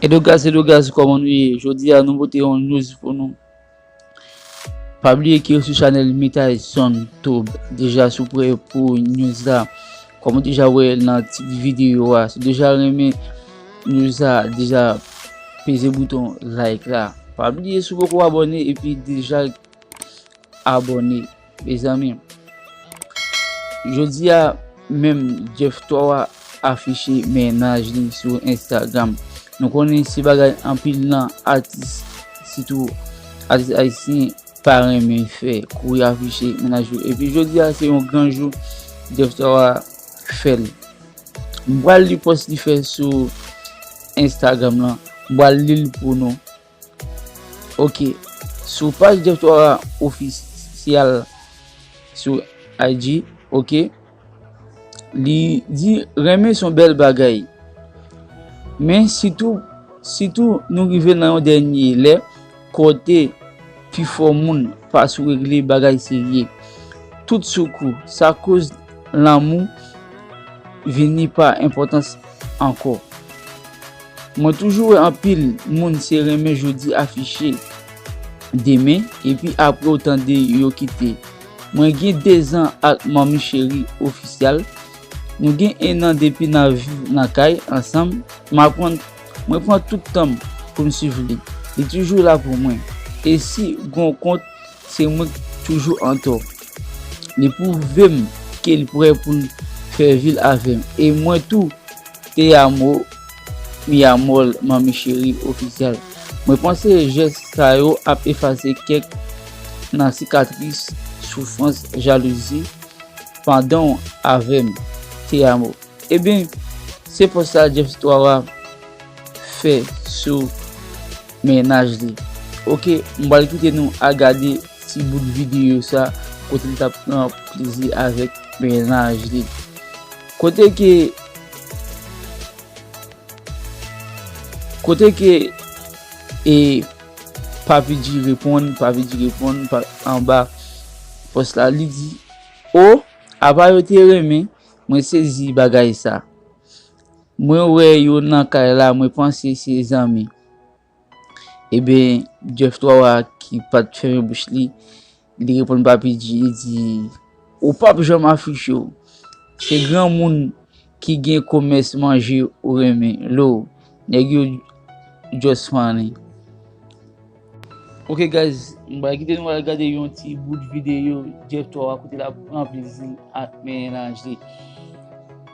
Edo Gaz Edo Gaz kòman nou ye jodi a nou pote yon news pou nou pa bliye ke sou chanèl Mitay Zòn Toub deja sou pre pou news la kòm ou deja wè nan tit videyo a si ou deja renmen news la deja peze bouton like la pa bliye si ou poko abòne epi deja abòne mezanmi jodia menm Jeff Thor a afiche mennaj li sou Instagram nou konnen se bagay anpil nan atis sitou atis ayisyen pa renmen fè kou yo afiche mennaj yo epi jodia se yon gran jou Jeff Thor a fèl m pral li pòs li fè sou Instagram lan m pral lil pou nou. Ok, sou paj Jeff Twara ofisyal sou IG, ok, li di renmen son bèl bagay. Men sitou, sitou nou rive nan yon dènye lè kote pifò moun pa sou regle bagay serye. Tout sou kou, sa koz lanmou vini pa enpòtans ankò. Mwen toujou wè anpil moun se renmen jodi afiche demen epi apre ou tande yo kite mwen gen 2 zan ak manmi cheri oficial nou gen 1 an depi nan viv nan kay ansanm m aprann mwen pran tout tanm poum swiv li li toujou la pou mwen e si gon kont se mwen k toujou antò li pwouvem kel prè poul fè vil avèm e mwen tou Te amo mi amor manmi cheri official mwen panse jès sa yo ap efase kèk nan sikatris soufrans jalouzi pandanw avèm te amo ebyn se pòs sa Jeff Twawa fè sou mennaj li ok m pral kite nou a gade ti bout video sa kote li tap pran plezi avèk mennaj li. Kote ke Kote ke E Papi G reponn Papi G reponn anba Pòs la li di O apa yo te renmen Mwen sezi bagay sa Mwen wè yo nan kay la mwen panse se zanmi. Ebyen Jeff 3 wa ki pat fèmen bouch li, li reponn Papi G li di, Ou pap janm afiche w, se granmoun ki gen komès manje ou renmen lo, nèg yo just funny. Ok guys, m pral kite nou al gade yon ti bout videyo Jeff 3 wa kote lap pran plezi ak melanj li.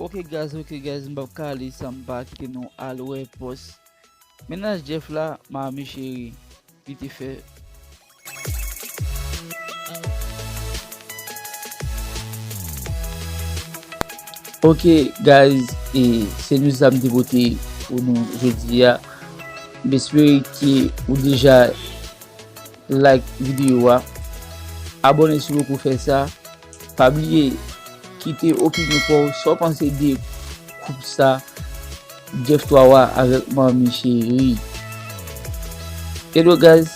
Ok guys ok guys m pap ka ale san m pa kite nou al wè pòs mennaj Jeff la Maami cheri li te fè Ok guys e se nou sa m te pote pou nou jodi a m espere ke ou deja like videyo a abone si w poko fè sa Pa bliye kite opinyon paw sa w panse de koup sa Jeff 3 wa avèk manmi cheri. Hello guys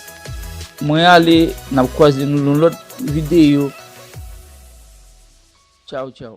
mwen ale nap kwaze nou nan lòt videyo tchaw tchaw.